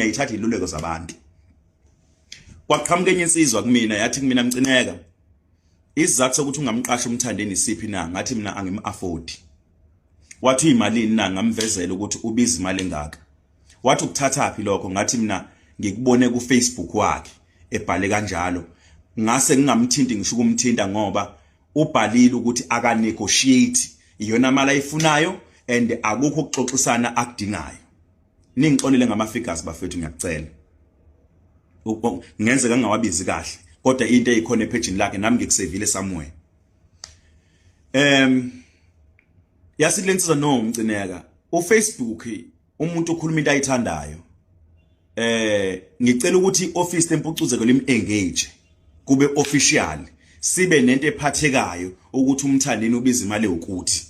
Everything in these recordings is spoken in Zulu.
ngiyayithatha iluleko zabantu kwaqhamuka enye insizwa kumina yathi kumina mcineka isizathu sokuthi ungamqasha umthandeni isiphi na ngathi mina angim-afford wathi uyimalini na ngamvezela ukuthi ubiza imali engaka wathi ukuthathaphi lokho ngathi mina ngikubone kufacebook wakhe ebhale kanjalo ngase ngingamthinti ngisho ukumthinta ngoba ubhalile ukuthi akanegotiate iyona mali ayifunayo and akukho ukuxoxisana akudingayo Ningixolele ngama figures bafethu ngiyakucela. Ngenzeka ngingawabizi kahle kodwa into eyikhona ephejini lakhe nami ngikusevile somewhere. Em yasithi lensiza no umcineka uFacebook umuntu ukhuluma into ayithandayo. Eh ngicela ukuthi office tempucuzeko lim engage kube official sibe nento ephathekayo ukuthi umthandeni ubiza imali ukuthi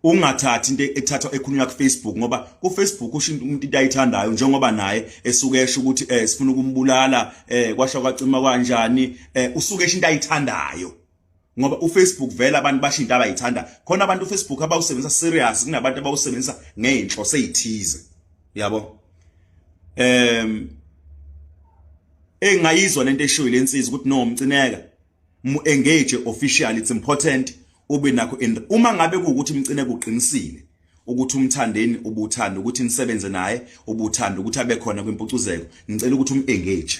ungathathi into ethathwa ekhulunywa ku Facebook ngoba ku Facebook usho umuntu into ayithandayo njengoba naye esuke esho ukuthi eh sifuna ukumbulala eh kwasha kwacima kanjani eh usuke esho into ayithandayo ngoba uFacebook vela abantu basho into abayithanda khona abantu uFacebook abawusebenzisa serious kunabantu abawusebenzisa ngeenhlo seyithize yabo em engayizwa lento eshoyo lensizwa ukuthi no mcineka mu engage officially it's important ube nakho in uma ngabe kuukuthi mcine kuqinisile ukuthi umthandeni ubuthanda ukuthi nisebenze naye ubuthanda ukuthi abe khona kwimpucuzeko ngicela ukuthi umengage